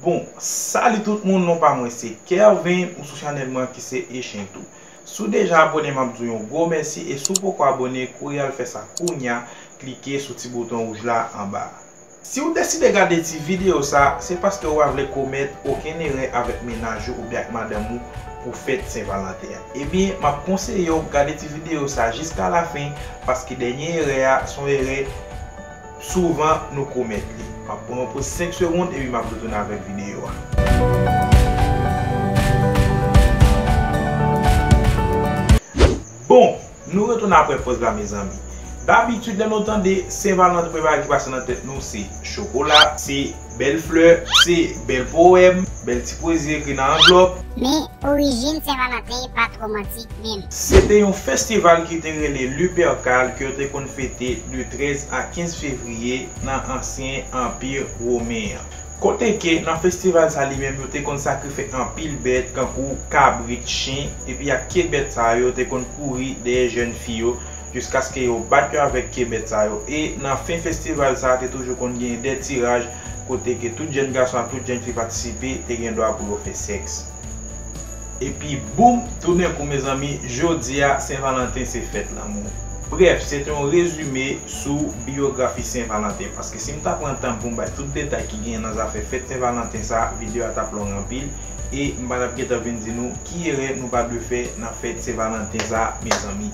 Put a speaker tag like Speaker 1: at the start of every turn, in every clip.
Speaker 1: Bon Salut tout moun non pa mwen se Kervin ou sou chanèl mwen ki se Echen tou sou deja abone map diw yon gwo mèsi e sou poko abone kouri al fè sa kounya klike sou ti bouton wouj la anba a. Siw deside gade ti video sa se paske ou pa vle komèt okenn erè avèk mennaj ou oubyen ak madanm ou pou fèt sen valanten an ebyen map konseyew gade ti video sa jiska la fen paske dènye erè a son erè Souvan nou komèt li. Map pran yon poz 5 segond epi map retounen avèk videyo a. Bon! Nou retounen aprè poz la mezanmi. Dabitid lè nou tande Sen Valantre premye bagay ki pase nan tèt nou se chokola, se. Bèl flè, se bèl powèm, bèl ti pwezi ekri nan anvlòp. Men, orijin
Speaker 2: Sen Valanten pa t romantik menm. Se te yon festival
Speaker 1: ki te rele Lupercal ke yo te konn fete de 13 a 15 fevriye nan ansyen Anpi Women an. Kote ke nan festival sa li menm yo te konn sakrife anpil bèt kankou kabrit, chen, epi ak ke bèt sa yo te konn kouri dèyè jèn fi yo jiskaske yo bat yo avèk kebèt sa yo e nan fen festival sa te toujou konn gen de tiraj kote ke tout jèn gason ak tout jèn fi patisipe te gen dwa pou yo fè sèks epi boum toudenkou mezanmi jodi a sen valanten se fèt lanmou brèf se te yon rezime sou biyografi sen valanten paske si m ta pran tan pou m bay tout detay ki genyen nan zafè fèt sen valanten sa videyo a t ap long anpil e m pa t ap gentan vin di nou ki erè nou pa dwe fè nan fèt sen valanten sa mezanmi.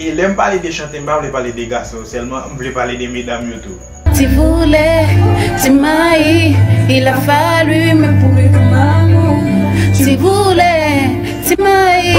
Speaker 1: E lèm pale de chante m pa vle pale de gason yo sèlman m vle pale de medam yo tou. Ti voulè,
Speaker 3: ti mayi, il a fallu me pourrir comme amour Ti voulè, ti mayi.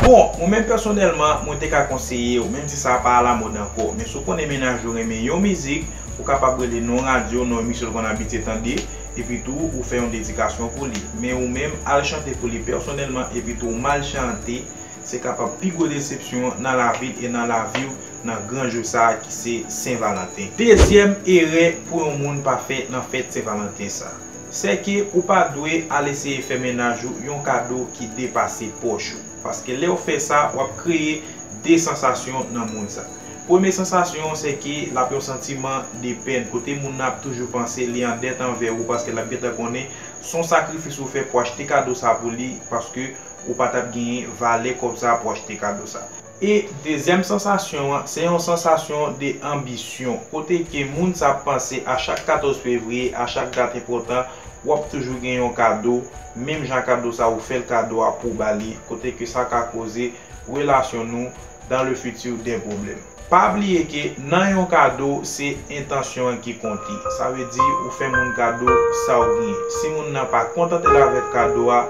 Speaker 3: Bon, mwen menm
Speaker 1: pèsonèlman, mwen te ka konseye w, menm si sa pa alamòd ankò, men si w konnen mennaj ou renmen yon mizik, ou kapab rele non radyo, non emisyon l konn abitye tande, epi tou ou fè yon dedikasyon pou li. Men ou menm, al chante pou li pèsonèlman epi tou w mal chante, Se kapab pi gwo desepsyon w nan lavi e nan lavi w nan gran jou sa a ki se Sen Valanten. Dezyèm erè pou yon moun pa fè nan fèt Sen Valanten sa, sèke ou pa dwe al eseye fè mennaj ou yon kado ki depase pòch ou. Paske lè w fè sa, w ap kreye 2 sansasyon nan moun sa. Premye sansasyon sèke l ap yon santiman de pèn kote moun nan ap toujou panse li an dèt anvè ou paske l ap gentan konnen s on sakrifis ou fè pou achte kado sa pou li paske ou pa tap genyen valè kòb sa pou achte kado sa. E dezyèm sansasyon an, se yon sansasyon de anbisyon, kote ke moun sa ap panse a chak 14 fevriye, a chak dat enpòtan, wap toujou gen yon kado, menm jan kado sa ou fèl kado a pou ba li, kote ke sa ka koze relasyon nou dans le futur des problèmes. Pa bliye ke nan yon kado se entansyon an ki konte. Sa vle di ou fè moun kado sa ou gnyen. Si moun nan pa kontante l avèk kado a,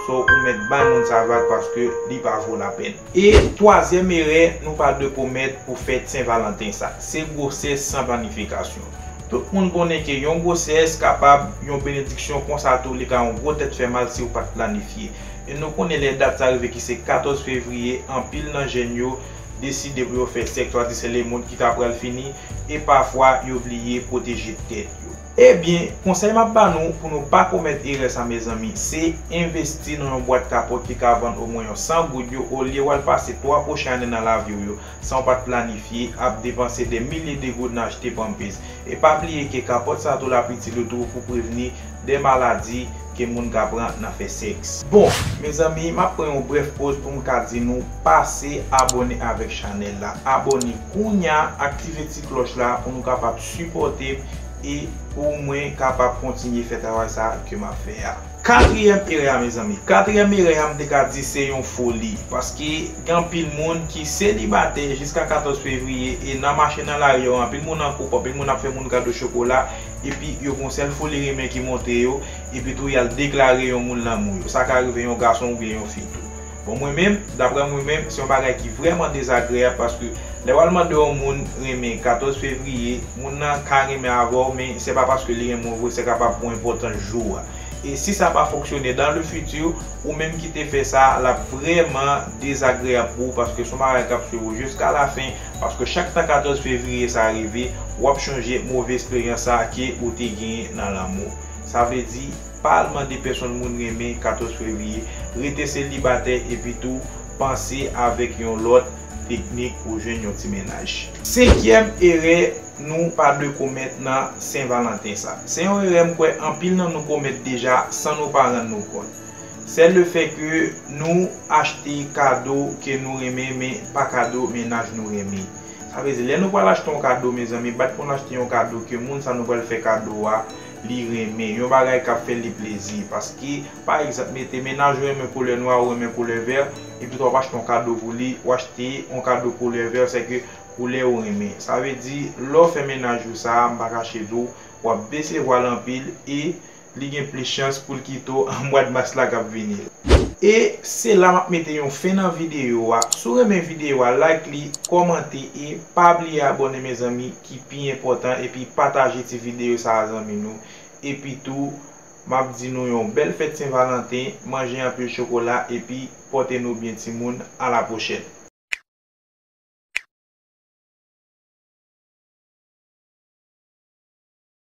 Speaker 1: so ou mèt bay moun sa vag paske li pa vo lapèn. E twazyèm erè nou pa dwe komèt pou fèt Sen Valanten sa, se gwosès san planifikasyon. Tout moun konnen ke yon gwosès kapab yon benediksyon konsa tou li ka yon gwo tèt fè mal si ou pat planifye. E nou konnen lè dat sa rive ki se 14 fevriye anpil nan jèn yo, deside pou yo fè sèks tradisyèl lemond ki ta pral fini e pafwa yo bliye pwoteje tèt yo. Ebyen, konsèy map ba nou pou nou pa komèt erè sa mezanmi, se envesti nan yon bwat kapòt ki ka vann omwen yon 100 goud yo olye wal pase 3 pwochen ane nan laviw yo sanw pat planifye ap depanse dè milye de goud nan achte pampez. E pa bliye ke kapòt sa tou lap itil yo tou pou prevni de maladi ke moun ka pran nan fè sèks. Bon Mezanmi map pran yon brèf poz poum ka di nou pase abone avèk chanèl la abone kounya aktive ti klòch la pou nou kapab sipòtem e pou mwen kapab kontinye fè travay sa ke map fè a. Katriyèm erè a mezanmi. Katriyèm erè a m te ka di se yon foli paske gen anpil moun ki selibatè jiska 14 fevriye e nan mache nan lari yo anpil moun an koup anpil moun ap fè moun kado chokola epi yo gon sèl foli renmen ki monte yo, epi tou yal deklare yon moun lanmou yo, sa ka rive yon gason oubyen yon fi tou. Bon mwen menm, daprè mwen menm, se yon bagay ki vrèman dezagreyab paske lè wal mande yon moun renmen 14 fevriye, moun nan ka renmen avèw men se pa paske li renmen w vre se kapab pou enpòtans jou a. E si sa pa fonksyone dans le futur, ou menm ki te fè sa, lap vrèman dezagreyab pou ou paske son bagay kap swiv ou jiska la fin, Paske chak tan 14 fevriye sa rive wap chonje move esperyans sa ke ou te genyen nan lanmou. Sa vle di, pa al mande pèsonn moun renmen 14 fevriye, rete selibatè epi tou panse avèk yon lòt teknik pou jwenn yon ti mennaj. Senkyèm erè nou pa dwe komèt nan Sen Valanten sa. Se yon erè m kwè anpil nan nou komèt deja san nou pa rann nou kont. Sèl le fè ke nou achte kado ke nou renmen men pa kado mennaj nou renmen. Sa vle di lè nou pral achte yon kado mezanmi bat pou nou achte yon kado ke moun sa nou pral fè kado a li renmen, yon bagay kap fè li plezi. Paske pa egzanp mete mennaj ou renmen koulè nwa ou renmen koulè vè epi tou wap achte yon kado pou li ou achte yon kado koulè vè se ke koulè ou renmen. Sa vle di lè ou fè mennaj ou sa m pa kache di w wap desevwa l anpil e li gen plis chans poul kite w an mwad mas la kap vini la. E se la map mete yon fen nan video a, si w renmen video a like li, kòmante e pa bliye abòne mezanmi ki pi enpòtan epi pataje ti video sa a zanmi nou epi tou map di nou yon bèl fèt sen valanten manje anpil chokola epi pòte nou byen timoun a la pwochèn.